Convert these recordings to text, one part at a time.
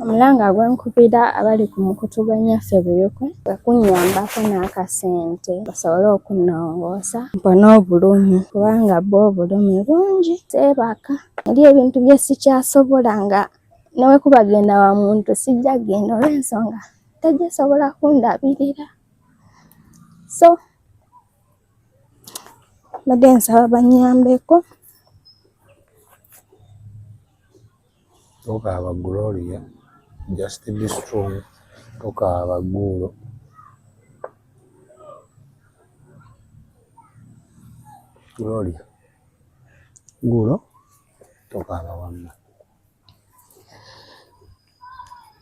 omulanga gwenkubira abali ku mukutu gwa nnyaffe buyuku kwe kunnyambako n'akasente basobole okunnongoosa mpone obulumi kubanga bo obulumi bungi seebaka eri ebintu bye sikyasobola nga newekuba genda wa muntu sijja genda olw'ensonga tegisobola kundabirira so mbadde nsaba bannyambeko Tokaaba Gloria, just be strong. Tokaaba guulo. Gloria, guulo tokaaba wamma.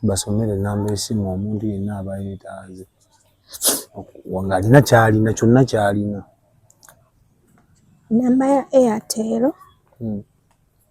Basomere namba esimu omuntu yenna aba yeetaaze ng'alina ky'alina kyonna ky'alina. Namba ya Airtel. Hmm.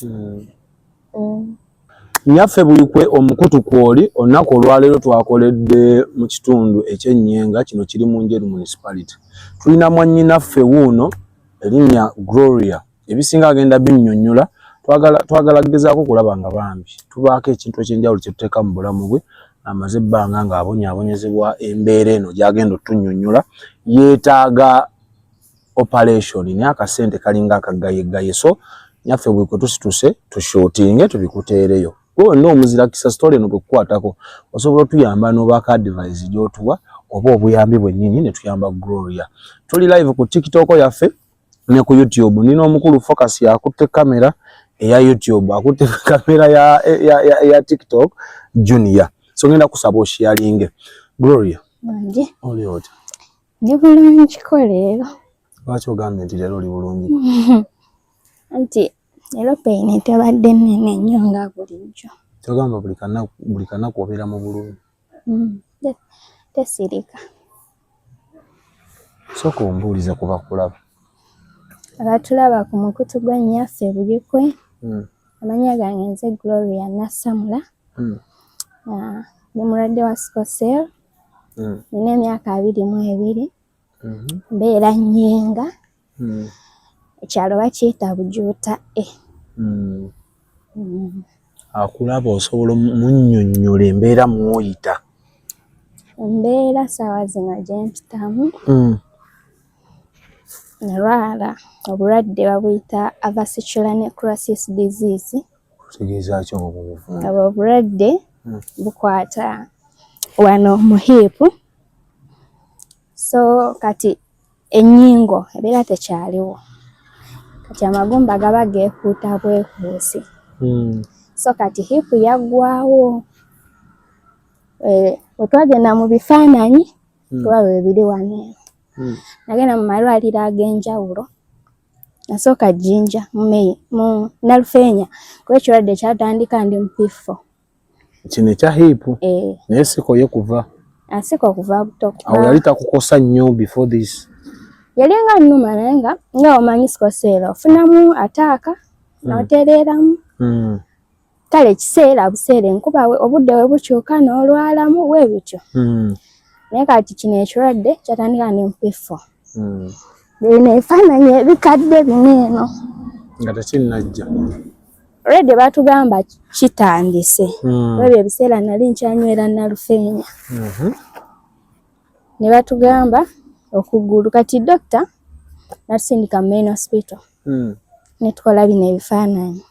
Hmm. Hmm. Nyaffe bulikwe omukutu kwoli olunaku olwaleero twakoledde mu kitundu ekyenyenga kino kiri mu njeru municipality tulina mwannyinaffe wuuno erinnya Gloria ebisinga agenda binnyonnyola twagala twagala gezaako kulaba nga bambi tubaako ekintu ekyenjawulo kye tuteeka mu bulamu bwe amaze ebbanga ng'abonyaabonyezebwa embeera eno gy'agenda otunnyonnyola yeetaaga operation naye akasente kalinga akagayegaye so nyaffe buli kwe tusituse tushutinge tubikuteereyo gwe wenna omuzira kisa sitole no bwekukwatako osobola otuyamba n'obaako adivise gy'otuwa oba obuyambi bwennyini ne tuyamba gloria tuli live ku tiktok yaffe ne ku youtube nina omukulu focus yakutte kamera eya youtube akutte kamera ya, ya, ya, ya tiktok junior so ngenda kusaba oshiyalinge gloria oli otya Ndi bulungi ko leero. Lwaki ogambye nti leero oli bulungi? Anti leero peyini tebadde nnene nnyo nga bulijjo. Kyogamba buli kanaku obeera mu bulumi? Mm, Tesirika. Sooka ombuulize ku bakulaba. Abatulaba ku mukutu gwa nnyaffe Bulikwe. Mm. Amanya gange nze Gloria Nasamula. Mm. Ah, ndi mulwadde wa sikosel. mm. nina emyaka abiri mu ebiri mm-hmm. mbeera nyenga mm. ekyalo bakiyita bujuuta e mm. akulaba osobola omunyonyola embeera mwoyita embeera saawa zino gyempitamu nalwala obulwadde babuyita avasicula necrosis disease obwo obulwadde hmm. bukwata wano mu hiipu so kati ennyingo ebeera tekyaliwo kati amagumba gaba geekuuta bwekuusi hmm. so kati hiipu yaggwawo eh, wetwagenda mu bifaananyi hmm. tuba webiri wano nagenda mu malwaliro ag'enjawulo Nasooka Jinja mu Nalufeenya kuba ekirwadde kyatandika ndi mupiffo. Kino ekya hiipu eh. naye sikoye kuva asika ah, okuva buto. Awo yali takukosa nnyo before this? Yali nga nnuma naye nga nga omanyi sikoseera ofunamu ataaka hmm. notereeramu. Hmm. kale kiseera buseera enkuba obudde we bukyuka n'olwalamu we bityo hmm. naye kati kino ekirwadde kyatandika ne mpiffo hmm. bino ebifaananyi ebikadde bino eno nga tekinnajja redi batugamba kitandise hmm. webyo ebiseera nali nkyanywera nalufeenya mhm. ne batugamba okugulu kati dokita natusindika main hospital hmm. ne tukola bino ebifaananyi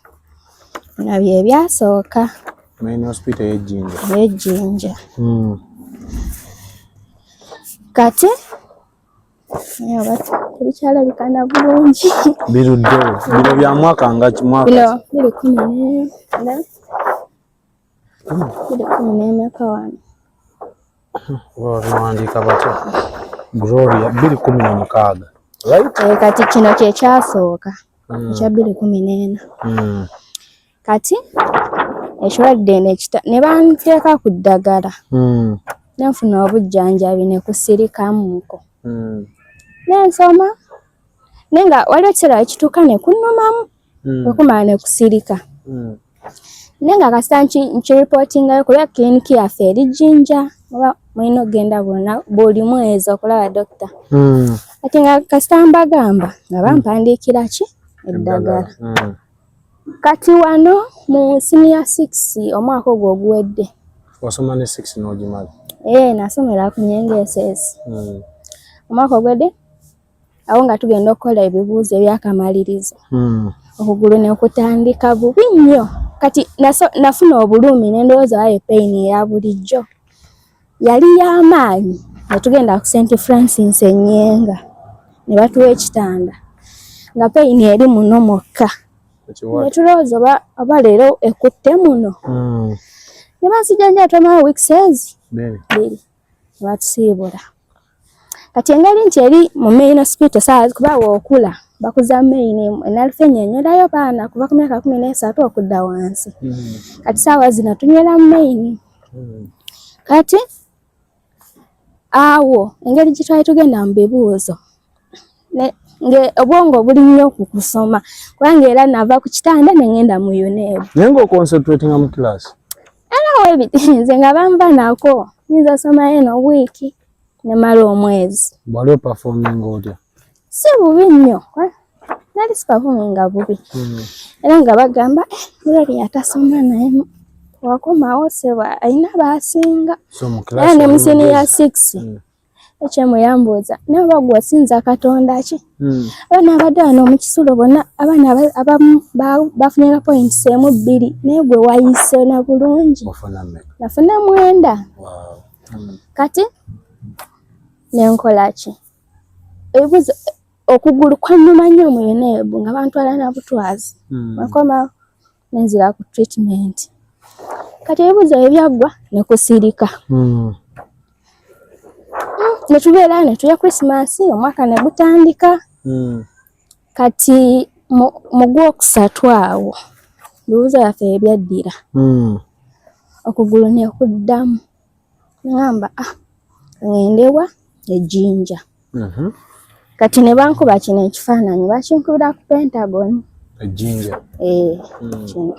bino bye byasooka eyejjinja hmm. kati tebikyalabikana bulungi biruddewo bino bya mwaka nga kimwaka bino biri kumi nena babiwandiika batya gloria bbiri kumi na mukaaga eh, kati kino kyekyasooka hmm. ekya bbiri kumi n'ena hmm. kati ekirwadde ne banteeka ku ddagala hmm. nenfuna obujjanjabi ne kusirikamuko nensoma naye nga waliwo ekiseera ekituuka ne kunumamu mm. wekumala nekusirika mm. naye nga kasita nkiripootingayo kulaba kiliniki yaffe eri jinja oba mulina okugenda buli mwezi okulaba dokita mm. ati nga kasita mbagamba nga bampandiikira ki eddagala mm. kati wano mu siniya six omwaka ogwo oguwedde wasoma ne six n'ogimala ee eh, nasomera ku nyengeesezi mm. omwaka ogwedde awo nga tugenda okukola ebibuuzo ebyakamalirizo hmm. okugulu nekutandika bubi nnyo kati nafuna obulumi nendowooza wayo peyini eya bulijjo yali yamaanyi netugenda ku senti francis enyenga ne batuwa ekitanda nga peyini eri muno mwokka netulowooza oba leero ekutte muno hmm. ne bansijanjaa twamala weeks ezi biri batusiibula kati engeri nti eri mu main hospital saa kuba wookula bakuza main enalfe nyonyolayo baana kuva ku myaka kumi n'esatu okudda wansi hmm. kati saawa zino tunywera mu main hmm. kati awo engeri gye twali tugenda mu bibuuzo obwongo buli nnyo ku kusoma kubanga era nava ku kitanda ne ŋenda mu unebu naye nga oconcentratinga mu class nze nga bamba nako nyinza somayo eno wiiki nemala omwezi wali opafominga otya si bubi nnyo eh? nali sipafominga bubi hmm. era nga bagamba eh, mulali yatasoma naye wakomawo seba alina basinga era ne musini ya six hmm. HM yambuuza naye oba gwe osinza katonda ki hmm. abaana abadde wano mu kisulo bonna abaana abamu bafunira points emu bbiri naye gwe wayise na bulungi nafuna mwenda hmm. kati nenkola ki ebibuuzo okugulu kwannuma nnyo mu yuneebu nga bantwala na butwazi hmm. akoma nenzira ku treatment kati ebibuzo ebyaggwa nekusirika hmm. netubeera netuya christmas omwaka negutandika hmm. kati mu gwokusatu awo bibuzo byaffe ebyaddira hmm. okugulu nekuddamu ngamba ah ngendewa ejinja mm -hmm. kati ne bankuba kino ekifaananyi bakinkubira ku pentagon ejinja eh, mm. kino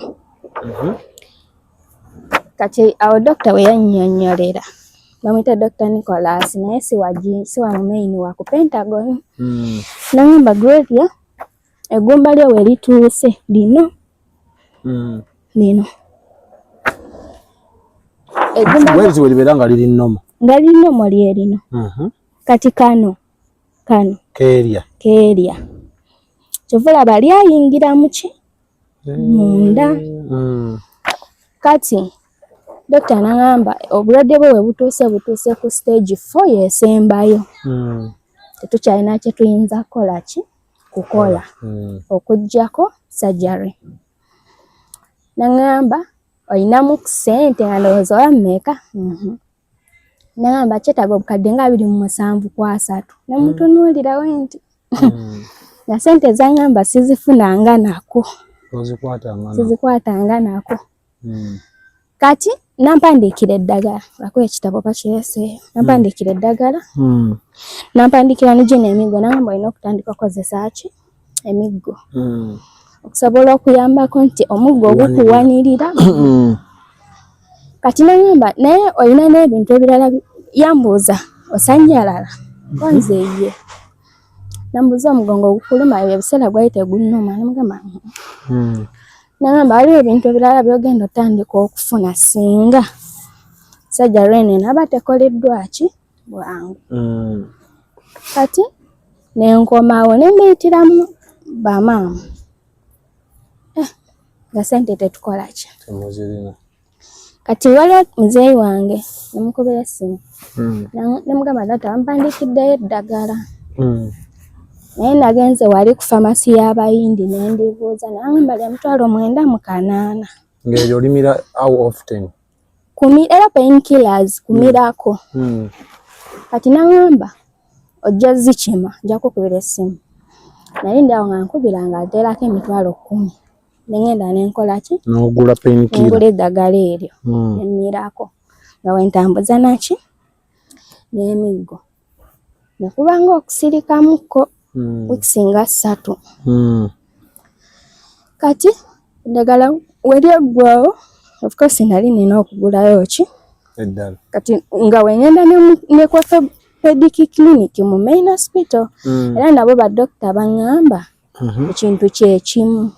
mm -hmm. kati awo dokita we yannyonnyolera bamwita Dr. Nicholas naye siwa siwa mumaini wa ku Pentagon mm. nangamba Gloria eggumba lyo we lituuse lino hmm. lino eggumbawenzi we libeera nga liri nnomo nga liri nnomo lye lino mhm. kati kano kano keerya keerya kyova olaba lyayingira muki eh, munda hmm. kati dokita nagamba obulwadde bwe webutuuse butuuse ku stage four yesembayo hmm. tetukyalina kyetuyinza kukola ki kukola mm. okujjako surgery nangamba olinamu kusente nga ndowooza oba mmeeka mhm. nangamba kyetaaga obukadde nga abiri mu musanvu ku asatu nemutunuulirawo mm. nti mm. na sente zangamba sizifunanga nako sizikwatanga nako hmm. kati nampandiikira eddagala akuba ekitabo bakirese nampandiikira hmm. eddagala hmm. nampandiikira ne gino emiggo nagamba olina okutandika okozesa ki emiggo okusobola okuyambako nti omuggo ogukuwanirira kati nagamba naye olina n'ebintu ebirala yambuuza osanyalala konze ye nambuza omugongo ogukuluma ebyo ebiseera gwali tegunnuma namugamba hmm. nagamba waliwo ebintu ebirala byogenda otandika okufuna singa sajja lwene naba tekoleddwa ki bwangu hmm. kati nenkomawo nembiyitiramu bamaama eh, nga sente tetukola ki kati waliwo muzeeyi wange namukubira essimu hmm. nemugamba data wampandikiddeyo eddagala hmm. naye nagenze wali ku famasi y'abayindi nendibuuza nangamba lya mutwalo mwenda mu kanaana ngaeyo olimira how often era painkillers kumirako hmm. kati nangamba ojja zikima nja kukubira essimu naye ndi awo nga nkubira nga ateerako emitwalo kkumi nengenda nenkola ki nogula penkira ngula eddagala eryo hmm. nemmirako nga wentambuza naki n'emiggo nekubanga okusirikamukko hmm. wikisinga ssatu hmm. kati eddagala weryeggwawo ofcourse nali nina okugulayo ki eddala kati nga wengenda nekwafe pedic clinic mu main hospital era nabo badokita baŋŋamba mhm. ekintu kyekimu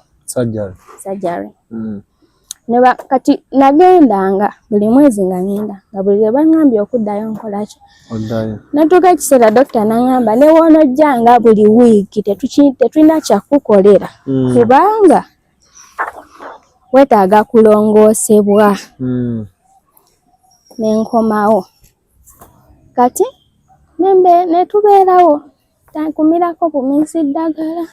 sajari mm. neba kati nagendanga buli mwezi nga ngenda nga buli lwe bangambye okuddayo nkolaki natuuka ekiseera dokita nangamba newoonojjanga buli wiiki tetulina kyakukolera mm. kubanga wetaaga kulongoosebwa mm. nenkomawo kati nembe netubeerawo tankumirako bumizi ddagala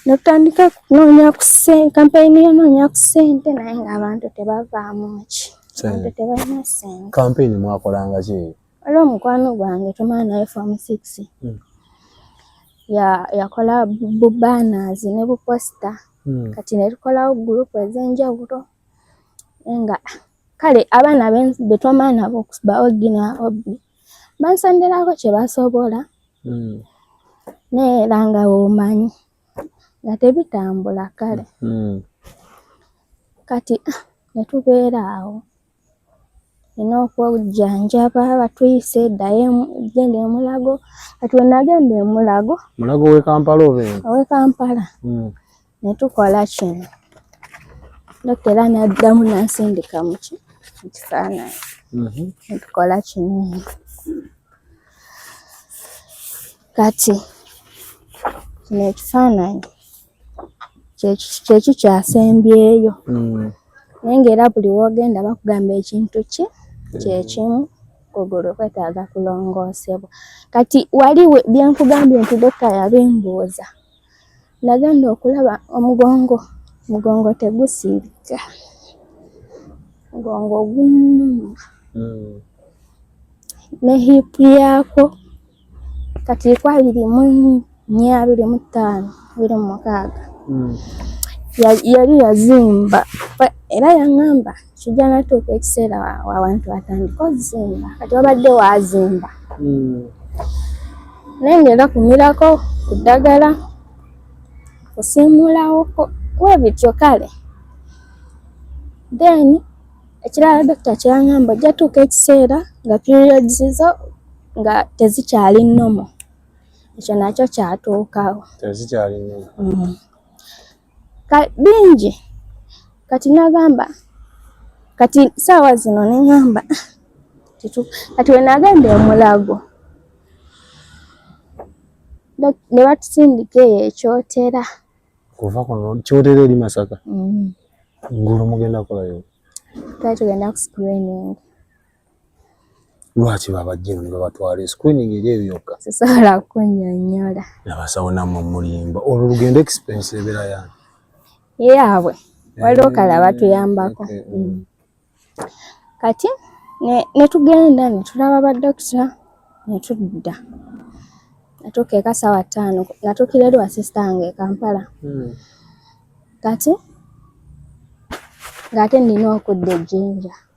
netutandika kunoonya ku sente kampeyini yonoonya ku sente naye ngaabantu tebavaamu ki abantu tebalina sente kampeyini mwakolanga ki waliwo omukwano gwange tumala naye fom six hmm. yakola bubanners ne buposita hmm. kati netukolawo gurupu ez'enjawulo nga kale abaana betwamala nabo ba ogi na obi bansandirako kyebasobola hmm. naye era nga womanyi nga tebitambula kale hmm. kati ah, netubeera awo ina okwojjanjaba batuyise eddayo genda emulago kati wenagenda emulago mulago wekampala obe owekampala hmm. ne tukola kino dokita era n'addamu n'ansindika mu kifaananyi mhm. ne tukola kino kati kino ekifaananyi kyeki kyasembyeyo mm. naye ngaera buli wogenda bakugamba ekintu ki kyekimu kugulu kwetaaga kulongoosebwa kati wali byenkugambye nti dokita yabimbuuza Nagenda okulaba omugongo, omugongo tegusiirika, omugongo gumuluma hmm. ne hipu yaako kati iko abiri mu nnya abiri mu ttaano abiri mu mukaaga hmm. yali yazimba era yaŋŋamba kijja natuuka ekiseera wabantu batandika ozimba kati wabadde wazimba hmm. naye ngaera kumirako ku ddagala kusiimulawoko webityo kale then ekirala dokita kyeyangamba ojja tuuka ekiseera nga periods zo nga tezikyali nomo ekyo nakyo kyatuukawo tezikyali nomo mm. bingi kati nagamba kati saawa zino neŋamba kati wenagenda omulago ne batusindika eyo ekyotera kuva kuno kyotera eri masaka mm. ngulu mugenda kolayo kati tugenda ku screening lwaki babajja eno ne babatwala screening eri eyo yokka sisobola kunyonyola nabasawo namwe mulimba olwo lugendo expense ebeera yani yaabwe eh, waliwo kala batuyambako eh, eh, mm. kati netugenda netulaba badokita netudda natuuka eka sawa ttaano natuukira eri wasisita wange ekampala hmm. kati ng'ate nina okudda ejjinja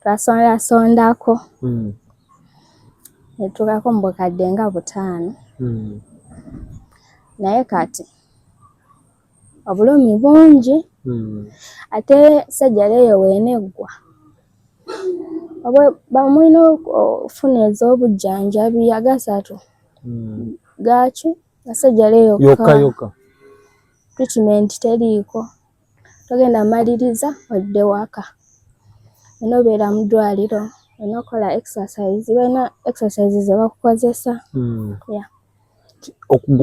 twasondasondako hmm. netuukako mu bukadde nga butaano hmm. naye kati obulumi bungi hmm. ate sajjala eyo weneggwa bamulina okufuna ez'obujjanjabi agasatu gaaki asajjala eyo yoka yoka treatment teriiko togenda maliriza odde waka olina obeera mu ddwaliro olina okukola exercise balina exercise zebakukozesa hmm. gwe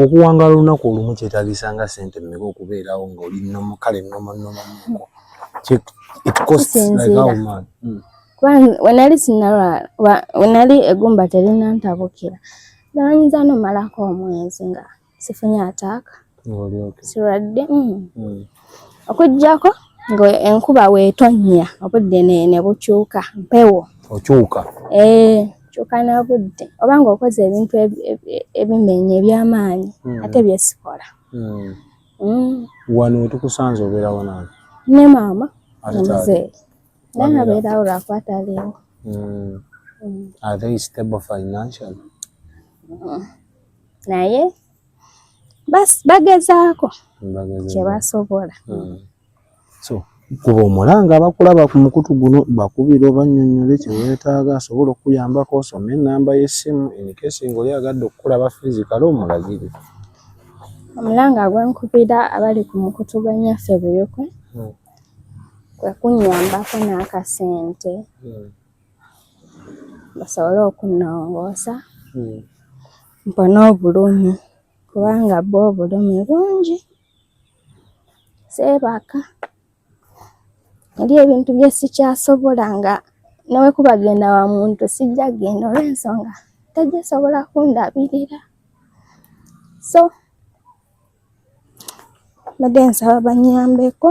okuwangala olunaku olumu kyetagisa nga sente mmeka okubeerawo ngaoli nomu kale nomunomuko wenali sinalwala wenali egumba terina ntabukira nalanyiza nomalako omwezi nga sifunye ataaka sirwadde mm. mm. okujjako ngaenkuba wetonnya obudde ne bukyuka mpewo okyuka eh, kyuka nabudde oba nga okoze ebintu ebimenya ebyamaanyi mm. ate byesikola wano wetukusanze obeerawo nange ne maama omuzeeyi naye abeerawo lwakwata aliwo are they stable financially naye bagezaako kye basobola hmm. so kuba omulanga abakulaba ku mukutu guno bakubira obanyonyole kye weetaaga asobola okukuyambako osome enamba y'essimu enikesi ngaoli agadde okukulaba fiizi kale omulagire omulanga gwenkubira abali ku mukutu gwa nyaffe buyokwe hmm. kwe kunyambako n'akasente hmm. basobole okunnongoosa hmm. mpone obulumi kubanga bo obulumi bungi seebaka eri ebintu bye sikyasobola nga newekuba genda wa muntu sijja genda olw'ensonga tegisobola kundabirira so mbadde nsaba banyambeko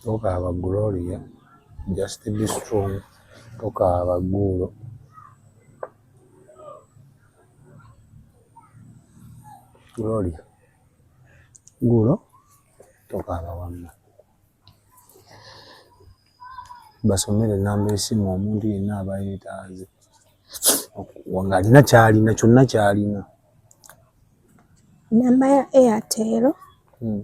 Tokaaba Gloria, just be strong. Tokaaba guulo. Gloria, guulo tokaaba wamma. Basomere ennamba esimu omuntu yenna aba yeetaaze ng'alina ky'alina kyonna ky'alina. Nnamba ya Airtel. Hmm.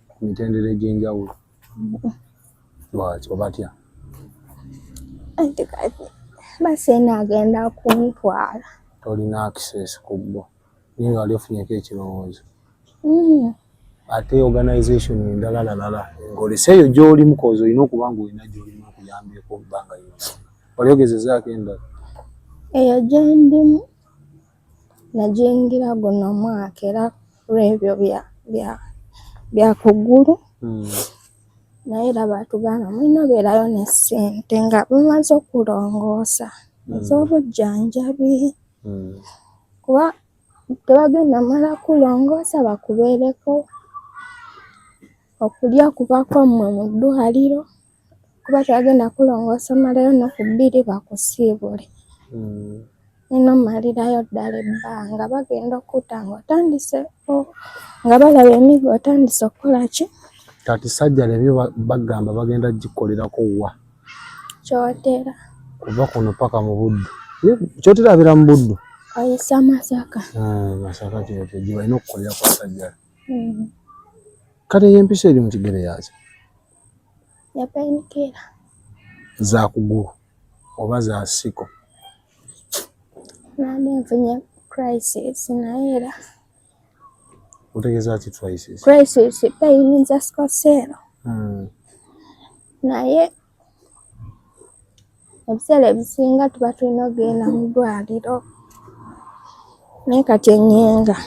ku mitendera egy'enjawulo lwaki oba atya anti kati baseena agenda kuntwala tolina access ku bbo naye nga wali ofunyeko ekirowoozo mm. ate organization endala lalala ng'oleseeyo gy'oli mukoozi olina okuba nga olina gy'olimu okuyambyeko obbanga yona wali ogezezaako endala eyo gyendimu Najingira guno mwaka era lwebyo bya bya bya kugulu mm. naye era batugamba mulina obeerayo ne ssente nga bumaze okulongoosa mm. ez'obujjanjabi mm. kuba tebagenda mala kulongoosa bakubeereko okulya kuba kwammwe mu ddwaliro kuba tebagenda kulongoosa omalayo nnaku bbiri bakusiibule hmm. nina omalirayo ddala ebbanga bagenda okutta nga otandise nga balaba emigo otandise okukola ki kati sajja lebyo bagamba bagenda gikolerako wa kyotera kuva kuno paka mu buddu kyotera abeera mu buddu ayisa masaka ah, masaka kyote gyebalina okukolera kwa sajja hmm. kati eyo empisa eri mu kigere yakyo yapainikira za kugulu oba za nsiko nali nfunye crisis naye era otegeza ki crisis crisis payini za sikoseero hmm. naye ebiseera ebisinga tuba tulina okugenda mu ddwaliro naye kati enyenga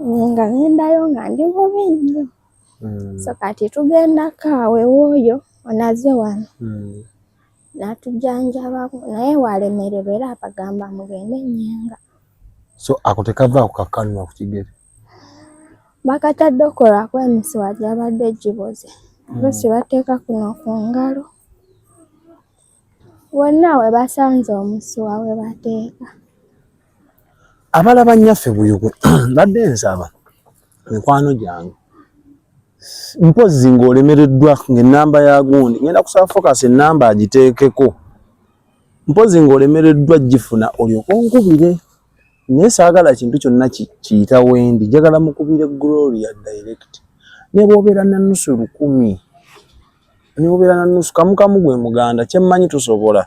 enyenga nendayo nga ndi bubi nnyo mm. so kati tugendako awo ewooyo onaze wano mm. natujanjabako naye walemererwa era abagamba mugende enyenga so ako tekavaako kakanwa ku kigere bakatadde okolako emisiwa gyabadde giboze mm. lusi bateeka kuno ku ngalo wonna we basanze omusuwa we bateeka abalaba nnyaffe buyugwe mbadde nsaba mikwano gyange mpozi ng'olemereddwa ng'ennamba ya gundi ngenda kusaba focus ennamba agiteekeko mpozi ng'olemereddwa gifuna olyoka onkubire naye saagala kintu kyonna kiyita wendi njagala mukubire gloria direct ne bwobeera nanusu lukumi niwubeera na nusu kamukamu gwe muganda kyemmanyi tusobola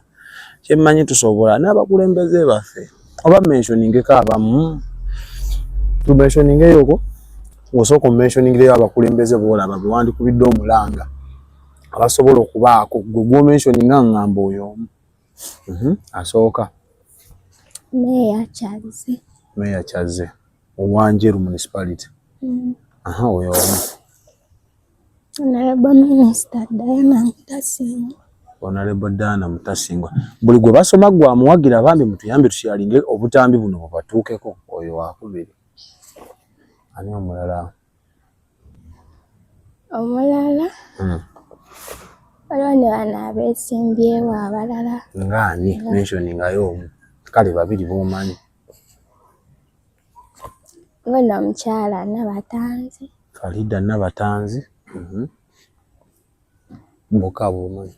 kyemmanyi tusobola n'abakulembeze baffe oba mentioningeko abamu tumentioningeyoko ngosooka omumentioningireyo abakulembeze boolaba bewandikubidde omulanga abasobola okubaako gwe gwomentioninga ngamba oyo omu mhm, asooka meya kyazze owanjeru municipality mm. oyo omu onalebo daana mutasingwa buli gwe basoma gwe amuwagira bambi mutuyambe tusyalinge obutambi buno bubatuukeko oyo wakubiri ani omulala omulala hmm. waliwo ne bana abesimbyewo abalala ngaani mensioningayo omu kale babiri bomanyi Ono omukyala Nabatanzi. Farida Nabatanzi. Mhm. Mbuka bumanyi.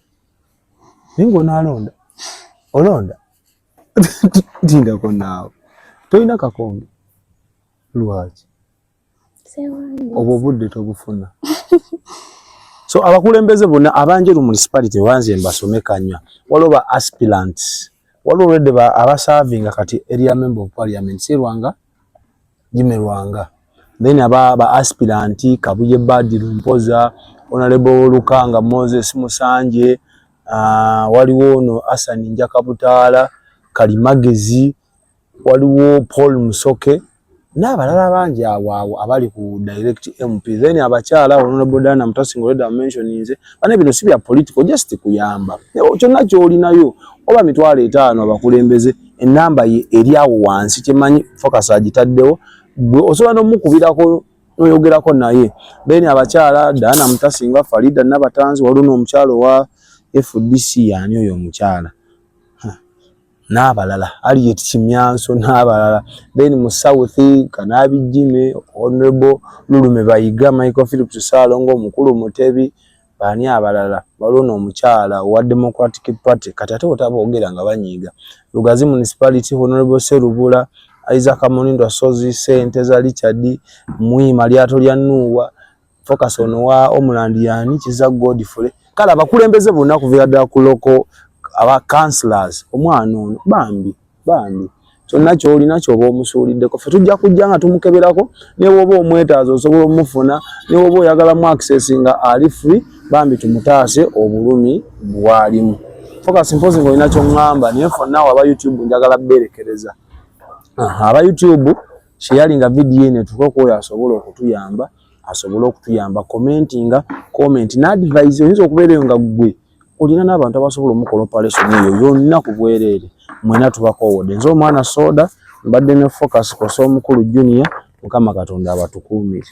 Naye ng'onaalonda olonda tindako naawe tolina kakombe lwaki obwo obudde tobufuna so abakulembeze bonna abanjeru municipality wanze mbasome kanya waliwo ba aspirant waliwo olwedde abasavinga kati area member of parliament serwanga jime lwanga then aba ba aspirant kabuye badiru mpoza onalebo lukanga moses musanje uh, waliwo ono asani njakabutaala kalimagezi waliwo Paul Musoke n'abalala bangi awo awo abali ku direct MP then abakyala honorable Diana Mutasi Ngoledo amentioninze bane bino si bya political just kuyamba kyonna kyolinayo oba mitwalo etaano abakulembeze enamba ye eri awo wansi kyemanyi focus agitaddewo gwe osobola n'omukubirako noyogerako naye then abakyala Diana Mutasi nga Farida Nabatanzi waliwo n'omukyalo wa FDC yani oyo omukyala n'abalala Harriet Kimyanso n'abalala then mu South Kanabijjime Honorable Lulume Bayiga Michael Phillips Ssaalongo Mukulu Mutebi baani abalala waliwo n'omukyala owa Democratic Party kati ate otaboogera nga banyiiga Lugazi Municipality Honorable Serubula Isaac Munindo Ssozi Ssenteza Richard Mwima Lyato lya Nuuwa focus on wa omland yani kiza godfrey kala bakulembeze bonna kuvira da kuloko aba counselors omwana ono bambi bambi kyonna kyolina kyoba omusuuliddeko fe tujja kujja nga tumukeberako newoba omwetaaza osobola omufuna newoba oyagala mu access nga ali free bambi tumutaase obulumi bwalimu focus mpozi nga olina kyoŋŋamba naye fonna aba youtube njagala beerekereza aba youtube sharinga video eno etuuke ku oyo asobola okutuyamba asobole okutuyamba commentinga comment na advise oyinza okubeera eyo nga ggwe olina n'abantu abasobola omukola operation eyo yonna ku bwereere mwena tubakoowodde nze omwana soda mbadde ne focus kosa omukulu junior mukama katonda abatukuumire